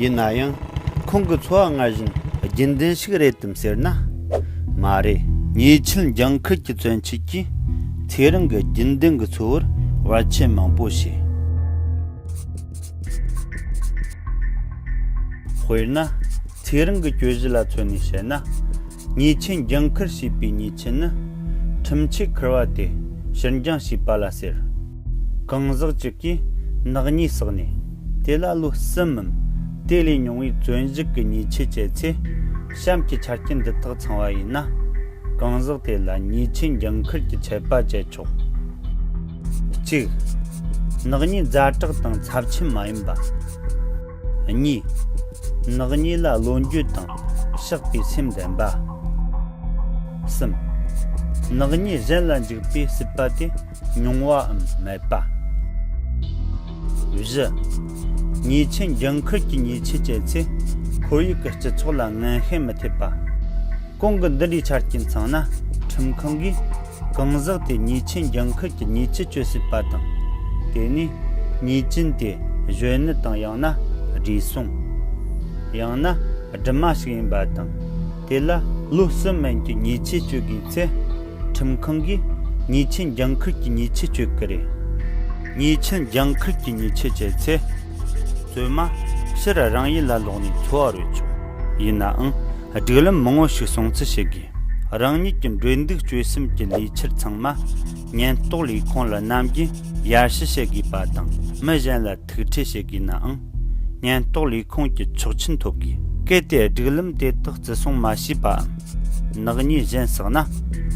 ཡིན་ན་ཡང་ཁོང་གི་འཚོ་བ་སྔར་བཞིན་རྒྱུན་ལྡན་ཞིག་རེད་དམ་ཟེར་ན་མ་རེད། ཉེ་ཆར་འཇང་ཁུལ་གྱི་བཙན་བྱོལ་གྱིས་ཚེ་རིང་གི་རྒྱུན་ལྡན་གྱི་འཚོ་བར་བར་ཆད་མང་པོ་བྱས། དཔེར་ན། ཚེ་རིང་གི་གྱོད་གཞི་ལ་མཚོན་ནས་བཤད་ན། ཉེས་ཆད་འགྱངས་འཁུར་བྱས་པའི་ཉེས་ཆད་ནི། ཁྲིམས་ཆད་འཁུར་བ་སྟེ་ཕྱིར་འགྱངས་བྱས་པ་ལ་ཟེར། གང་ཟག་ཅིག་གིས་ནག་ཉེས་བསགས་ནས། དེ་ལ་ལོ་གསུམ་མམ་དེ་ལས་ཉུང་བའི་བཙོན་བཞུགས་ཀྱི་ཉེས་ཆད་བཅད་ཚེ། གཤམ་གྱི་ཆ་རྐྱེན་འདི་དག་ཚང་བ་ཡིན་ན། གང་ཟག་དེ་ལ་ཉེས་ཆད་འགྱངས་འཁུར་གྱི་ཆད་པ་བཅད་ཆོག། གཅིག། ནག་ཉེས་རྫ་དྲག་དང་ཚབས་ཆེན་མ་ཡིན་པ། གཉིས། ནག་ཉེས་ལ་བློ་འགྱོད་དང་བཤགས་པའི་སེམས་ལྡན་པ། གསུམ། ནག་ཉེས་གཞན་ལ་འཇུག་པའི་སྲིད་པ་དེ་ཉུང་བའམ་མེད་པ། བཞི། ཉེས་ཆད་འགྱངས་ཁུལ་གྱི་ཉེས་ཆད་བཅད་ཚེ་ཁོར་ཡུག་གི་སྤྱི་ཚོགས་ལ་ངན་ཤན་མི་ཐེབས་པ། གོང་གི་འདི་འདྲའི་ཆ་རྐྱེན་ཚང་ན་ཁྲིམས་ཁང་གིས། གང་ཟག་དེ་ཉིད་ཆེན་རྒྱང་ཁུལ་གྱི་ཉིད་ཀྱི་སྤྱོད་སྲིད་པ་དང། དེ་ནས་ཉིད་ཅན་དེ་གཞོན་ནུ་དང་ཡང་ན་བགྲེས་སོང། ཡང་ན་སྦྲུམ་མ་ཞིག་ཡིན་པ་དང། དེ་ལ་ལོ་གསུམ་མན་གྱི་ཉིད་ཆས་སྤྱོད་དགོས་ཚེ། ཁྲིམས་ཁང་གིས་ཉིད་ཆེན་རྒྱང་ཁུལ་གྱི་ཉིད་ཆས་སྤྱོད་ཀྱི་རེད། ཉིད་ཆེན་རྒྱང་ཁུལ་གྱི་ཉིད་ཆས་སྤྱད་ཚེ། བཙུན་མ་ཕྱིར་རང་ཡུལ་ལ་ལོག་ནས་འཚོ་བ་རོལ་ཆོག་ཡིན་ནའང། སྒྲིག་ལམ་མང་བོ་ཞིག་སྲུང་བརྩི་བྱེད་དགོས། རང་ཉིད་ཀྱི་འགྲོས་འདུག་སྤྱོད་སེམས་ཀྱི་ལས་འཁྱུར་ཚང་མ་ཉེན་རྟོག་ལས་ཁུངས་ལ་ནམ་རྒྱུན་ཡར་ཞུ་བྱེད་དགོས་པ་དང་མི་གཞན་ལ་ཐུག་འཕྲད་བྱེད་དགོས་ནའང་ཉེན་རྟོག་ལས་ཁུངས་ཀྱི་ཆོག་མཆན་ཐོབ་དགོས། གལ་ཏེ་སྒྲིག་ལམ་དེ་དག་བརྩི་སྲུང་མ་བྱས་པའམ་ནག་ཉེས་གཞན་བསགས་ན་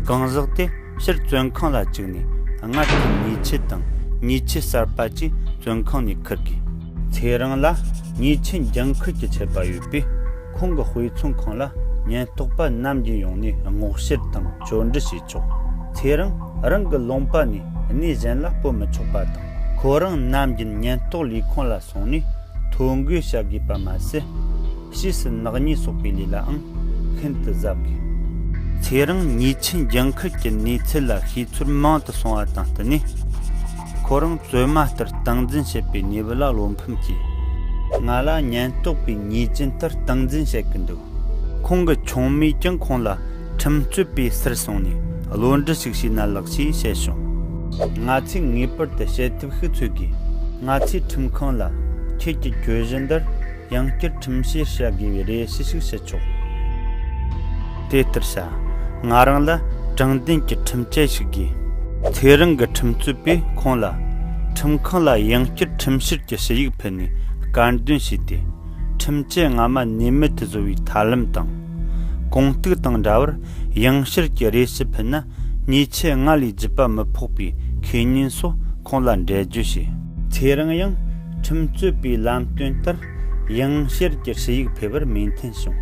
གང་ཟག་དེ་ཕྱིར་བཙོན་ཁང་ལ་བཅུག་ནས་སྔར་གྱི་ཉེས་ཆད་དང་ཉེས་ཆད་གསར་པ་གཅིག་བཙོན་ཁང་ནས་འཁུར་དགོས། ཚེ་རིང་ལ་ཉེས་ཆད་འགན་འཁུར་གྱི་ཆད་པ་ཡོད་པས། ཁོང་གི་དཔེ་མཚོན་ཁང་ལ་ཉེན་རྟོག་པ་ནམ་རྒྱུན་ཡོང་ནས་སྔོག་བཤེར་དང་བཅོས་འབྲི་བྱེད་ཆོག་ཚེ་རིང་རང་གི་ལུང་པ་ནས་གནས་གཞན་ལ་སྤོ་མི་ཆོག་པ་དང། ཁོ་རང་ནམ་རྒྱུན་ཉེན་རྟོག་ལས་ཁུངས་ལ་སོང་ནས་ཐོ་འགོད་བྱ་དགོས་པ་མ་ཟད། ཕྱིས་སུ་ནག་ཉེས་གསོག་པའི་ལས་ལའང་ཤིན་ཏུ་གཟབ་དགོས། ཚེ་རིང་ཉིད་ཆིན་རྒྱལ་ཁབ་ཀྱི་གནས་ཚུལ་ལ་ཤེས་ཚོར་མང་དུ་སོང་བ་དང་བསྟུན་ནས། ཁོ་རང་བཙོས་མ་ལྟར་སྟངས་འཛིན་བྱེད་པའི་ཉེས་པ་ལ་བློ་ཕམ་སྐྱེས། ང་ལ་ཉེན་རྟོག་པའི་ཉེས་ཅན་ལྟར་སྟངས་འཛིན་བྱེད་ཀྱི་འདུག་ཁོང་གི་ཆུང་མས་ཀྱང་ཁོང་ལ་ཁྲིམས་རྩོད་པའི་གསེར་སྲུང་ནས་བློ་འདྲི་ཞིག་བྱས་ན་ལགས་ཞེས་བཤད་བྱུང། ང་ཚོས་ངེས་པར་དུ་བྱེད་ཐབས་ཤིག་འཚོལ་དགོས། ང་ཚོས་ཁྲིམས་ཁང་ལ་ཁྱེད་ཀྱི་གྱོད་གཞི་འདིར་ཡང་བསྐྱར་ཁྲིམས་བཤེར་བྱ་དགོས་པའི་རེ་ཞུ་ཞིག་བྱེད་ཆོག་དེ་ལྟར་བྱ། ང་རང་ལ་དྲང་བདེན་གྱི་ཁྲིམས་དཔྱད་ཞིག་དགོས། ཁྱེད་རང་གི་ཁྲིམས་རྩོད་པས་ཁོང་ལ། ཁྲིམས་ཁང་ལ་ཡང་བསྐྱར་ཁྲིམས་བཤེར་གྱི་ཞུ་ཡིག་ཕུལ་ནས་དཀར་འདོན་བྱས་ཏེ། ཁྲིམས་དཔྱད་སྔ་མ་ནུས་མེད་དུ་བཟོ་བའི་ཐབས་ལམ་དང། གོང་གཏུགས་དང་འདྲ་བར་ཡང་བསྐྱར་གྱི་རེ་ཞུ་ཕུལ་ན་ཉེས་ཆད་སྔར་ལས་བརྒྱུད་པ་མི་ཕོག་པའི་ཁས་ཉིན་སོགས་ཁོང་ལ་འགྲེལ་བརྗོད་བྱས། ཁྱེད་རང་ཡང་ཁྲིམས་རྩོད་པའི་ལམ་སྟོན་ལྟར་ཡང་བསྐྱར་གྱི་ཧྲི་ཡིག་ཕེབས་པར་མོས་མཐུན་བྱུང།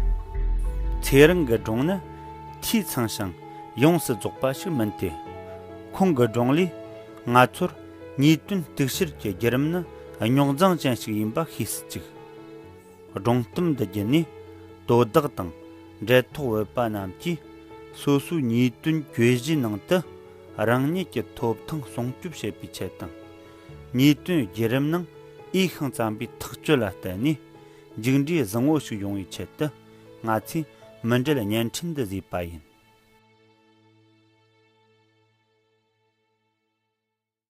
ཚེ་རིང་གི་སྒྲུང་ནི་འཐུས་ཚང་ཞིང་ཡོངས་སུ་རྫོགས་པ་ཞིག་མིན་ཏེ། ཁོང་གི་སྒྲུང་ལས་ང་ཚོར་ཉེས་དོན་གཏུག་བཤེར་གྱི་བརྒྱུད་རིམ་ནི་རྙོག་འཛིང་ཅན་ཞིག་ཡིན་པ་ཤེས་སུ་བཅུག། སྒྲུང་གཏམ་འདི་བརྒྱུད་ནས་དོ་བདག་དང་འབྲེལ་ཐོགས་འོས་པ་རྣམས་ཀྱིས་སོ་སོའི་ཉེས་དོན་གྱོད་གཞིའི་ནང་དུ་རང་ཉིད་ཀྱི་ཐོབ་ཐང་སྲུང་སྐྱོབ་བྱེད་པའི་ཆེད་དང། ཉེས་དོན་བརྒྱུད་རིམ་ནང་འོས་ཤིང་བརྩམས་པའི་ཐག་གཅོད་ལ་བརྟེན་ནས་མཇུག་འབྲས་བཟང་བོ་ཞིག་ཡོང་བའི་ཆེད་དུ་ང་ཚོས་མི་འབྲེལ་བརྙན་འཕྲིན་འདི་བཟོས་པ་ཡིན།